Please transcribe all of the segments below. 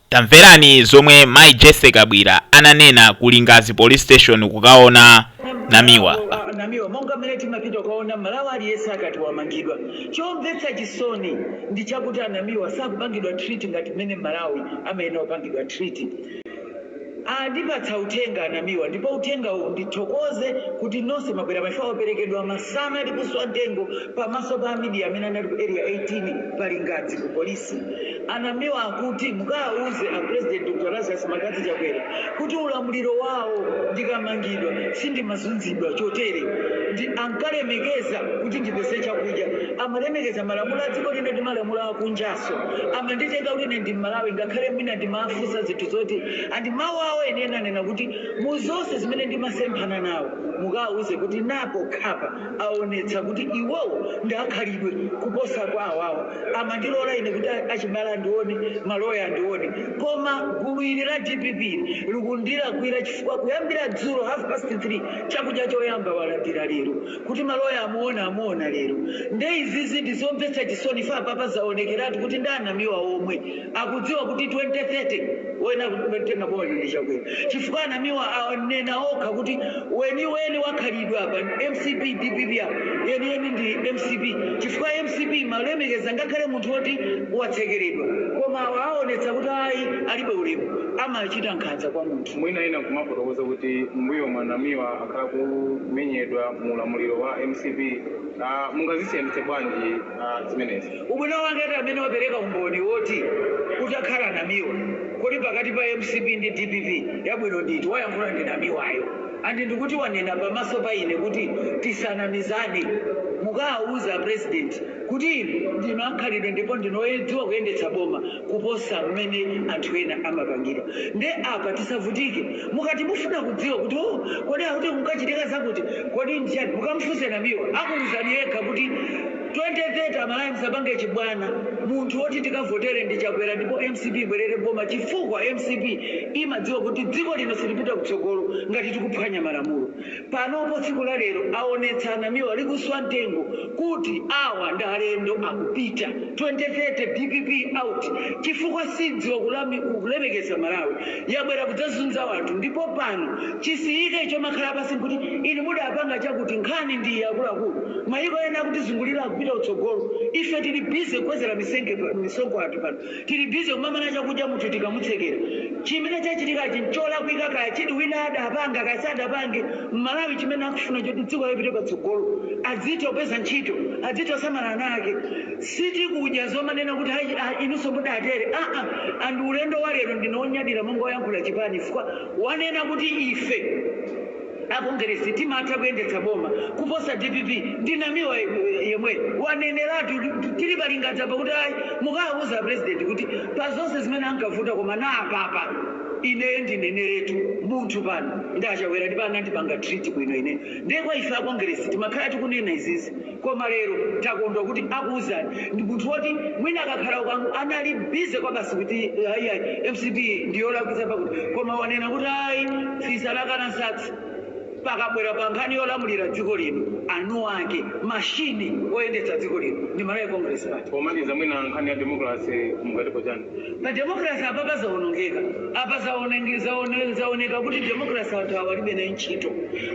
Tamverani zomwe Mai Jesse Kabwira ananena ku Lingadzi Police Station kukaona Namiwa. Wa- namiwa monga mmene timapita kukaona mmalawi aliyense akati wamangidwa chomvetsa chisoni ndi chakuti anamiwa sakupangidwa treat ngati mmene mmalawi amayenera kupangidwa treat Andipatsa uthenga anamiwa ndipo uthenga ndithokoze kuti nonse mwabwera pachifukwa waperekedwa masana likuswa mtengo pamaso pa amidia amene anali ku area 18 pa lingadzi ku police anamiwa akuti mukawauze a president Dr Lazarus McCarthy Chakwera kuti mu ulamuliro wawo ndikamangidwa sindimazunzidwa chotere and ankalemekeza kuti ndipeze chakudya amalemekeza malamulo a dziko lino ndi malamulo akunja komanso amanditenga kuti ine ndi mmalawi ngakhale mwina ndimafunsa zinthu zoti and mau awo enieni anena kuti mu zonse zimene ndimasemphana nawo mukawauze kuti napokhapa aonetsa kuti iwowo ndi akhalidwe kuposa kwa awawo amandilora ine kuti a- achibale andione maloya andione koma gulu ili la dpp ili likundilakwira chifukwa kuyambira dzulo half past 3 chakudya choyamba walandira lero kuti maloya amuona amuona lero nde izizi ndi zomvetsa chisoni ife apapa zaonekeratu kuti ndi anamiwa omwe akudziwa kuti 2030 woyenera kutenga boma lino ndi chakwera chifukwa anamiwa anena okha kuti weniweni wakhalidwe apa ndi mcp dpp yeniyeni ndi mcp chifukwa mcp imalemekeza ngakhale munthu woti watsekeredwa koma awa aonetsa kuti ayi alibe ulemu amachita nkhanza kwa munthu mwina ena kumafotokoza kuti mbuyomu anamiwa akumenyedwa mu ulamuliro wa mcp uh, mungazisiyanitse bwanji uh, zimenezi ubwino wake ati amene wapereka umboni woti kutakhala namiwa kodi pakati pa mcp ndi dpp yabwino ndi iti wayankhula ndi namiwayo and ndikuti wanena pamaso pa ine kuti tisanamizane mukawauze president kuti inu ndinu akhalidwe ndipo ndinu odziwa kuyendetsa boma kuposa mmene anthu ena amapangira nde apa tisavutike mukati mufuna kudziwa kuti oh kodi akuti kunkachitika zakuti kodi ndichani mukamufunse namiwa akuwuzani yekha kuti 2030 amalawi musapange chibwana munthu woti tikavotere ndi chakwera ndipo mcp ibwerere m'boma chifukwa mcp imadziwa kuti dziko lino silipita kutsogolo ngati tikuphwanya malamulo Panopo tsiku la lero aonetsa anamiwa likuswa mtengo kuti awa ndi alendo akupita 2030 dpp out chifukwa sidziwa kulemekeza mmalawi yabwera kudzazunza wanthu ndipo pano tisiye ichi chomakhala pansi nkuti inu mudapanga chakuti nkhani ndi iyi akuluakulu mayiko ena akutizungulira akupita kutsogolo ife tili busy kukwezera misonkho anthu pano tili busy kumamana chakudya munthu tikamutsekera chimene chachitikachi ncholakwika kaya chiti wina adapanga kaya sadapange mmalawi chimene akufuna choti dziko lipite patsogolo adzitha kupeza ntchito adzitha kusamala ana ake sitikudya zomanena kuti ayi ah, inunso mudatere aa and ulendo wa lero ndine onyadira monga oyankhula chipani chifukwa wanena kuti ife Akongeresi timatha kuyendetsa boma kuposa dpp ndi Namiwa yemweyo waneneratu tili pa Lingadzi apa kuti ayi mukawauze a President kuti pa zonse zimene ankavuta koma na apapa ineyo ndineneretu munthu pano ndi a Chakwera ndipo anandipanga treat bwino ineyo ndiye kwa ife a Kongeresi timakhala tikunena izizi Koma lero takondwa kuti akuuzani ndi munthu woti mwina akakhala ukangu anali busy kwabasi kuti ayi ayi mcp ndiyolakwitsa pakuti koma wanena kuti ayi fisi anakana nsatsi pakabwera pankhani yolamulira dziko lino anuwake machine oyendetsa dziko lino ndi Malawi Congress Party. Pomaliza mwina nkhani ya democracy mungatipo chani? pa democracy apapa zaonongeka apa zaonenge- zaone- zaoneka kuti democracy anthu awa alibe naye ntchito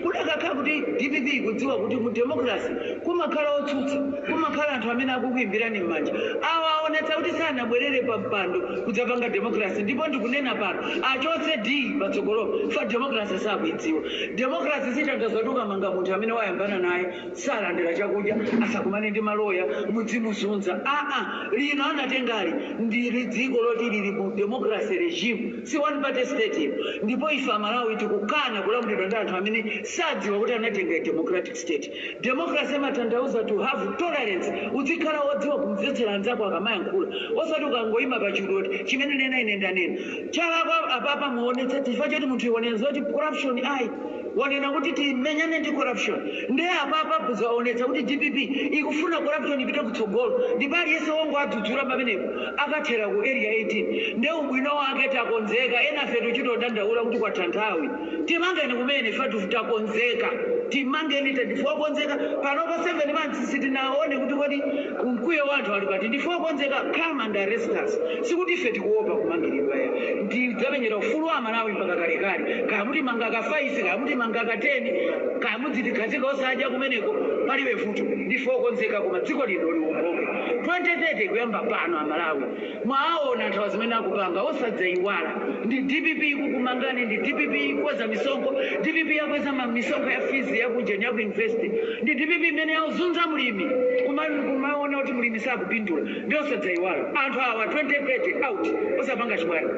kudakakhala kuti dpp ikudziwa kuti mu democracy kumakhala otsutsa kumakhala anthu amene akukuimbirani m'manja awa aonetsa kuti sanabwerere pa mpando kudzapanga democracy ndipo ndikunena pano achotse d patsogolo fa democracy sakuidziwa democracy sitanthauza kuti ukamanga munthu amene wayambana naye salandira chakudya asakumane ndi maloya mudzimuzunza aa lino anatengali ndili dziko loti lili mu democracy regime si one party state iyo ndipo ife amalawi tikukana kulamulidwa ndi anthu amene sadziwa kuti anatenga democratic state democracy imatanthauza to have tolerance udzikhala wodziwa kumvetsera anzako akamayankhula osati ukangoima pa chulu kuti chimene ndanena ine ndanena chalakwa apapa muonetse chifukwa choti munthuyo wanena zoti corruption ayi wanena kuti timenyane ndi corruption nde apapa zaonetsa kuti dpp ikufuna corruption ipite kutsogolo ndipo aliyense wongowadzudzula pamenepo akathera ku area 18 nde ubwino wake takonzeka enafe tichitodandaula kuti kwatha nthawi timangeni kumene ifetu takonzeka timangeni ife ndife okonzeka panopa 7 months sitinaone kuti kodi mkwiyo wa anthu uli pati ndife okonzeka come and arrest us sikuti ife tikuopa kumangilidwa ayi tidzamenyera ufulu wa amalawi mpaka kalekale kaya mutimanga ka 5 kaya mutimanga ka 10 kaya mudzitikhazika osadya kumeneko palibe vuto ndife okonzeka koma dziko lino liwomboke 2030 kuyamba pano amalawi mwaawona anthu awa zimene akupanga osadzayiwala ndi dpp ikukumangani ndi dpp ikukweza misonkho dpp yakweza ma- misonkho ya fees yakujeni yaku university ndi dpp imene yauzunza mlimi kuma- kumaona kuti mlimi sakupindula ndi osadzayiwala anthu awa 2030 out osapanga chibwana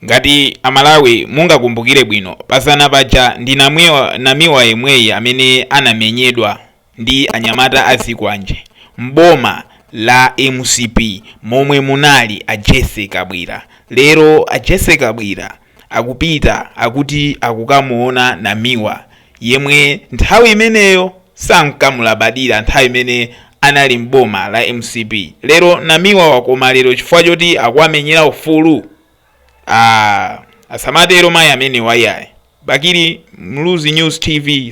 ngati amalawi mungakumbukire bwino pazana paja ndi namiwa yemweyi amene anamenyedwa ndi anyamata azikwanje m'boma la mcp momwe munali a jesse kabwira lero a jesse kabwira akupita akuti akukamuona namiwa yemwe nthawi imeneyo sankamulabadira nthawi imene anali m'boma la mcp lero namiwa wakoma lero chifukwa choti akuwamenyera ufulu ah, asamatero mayi amenewa iyayi bakili muluzi news tv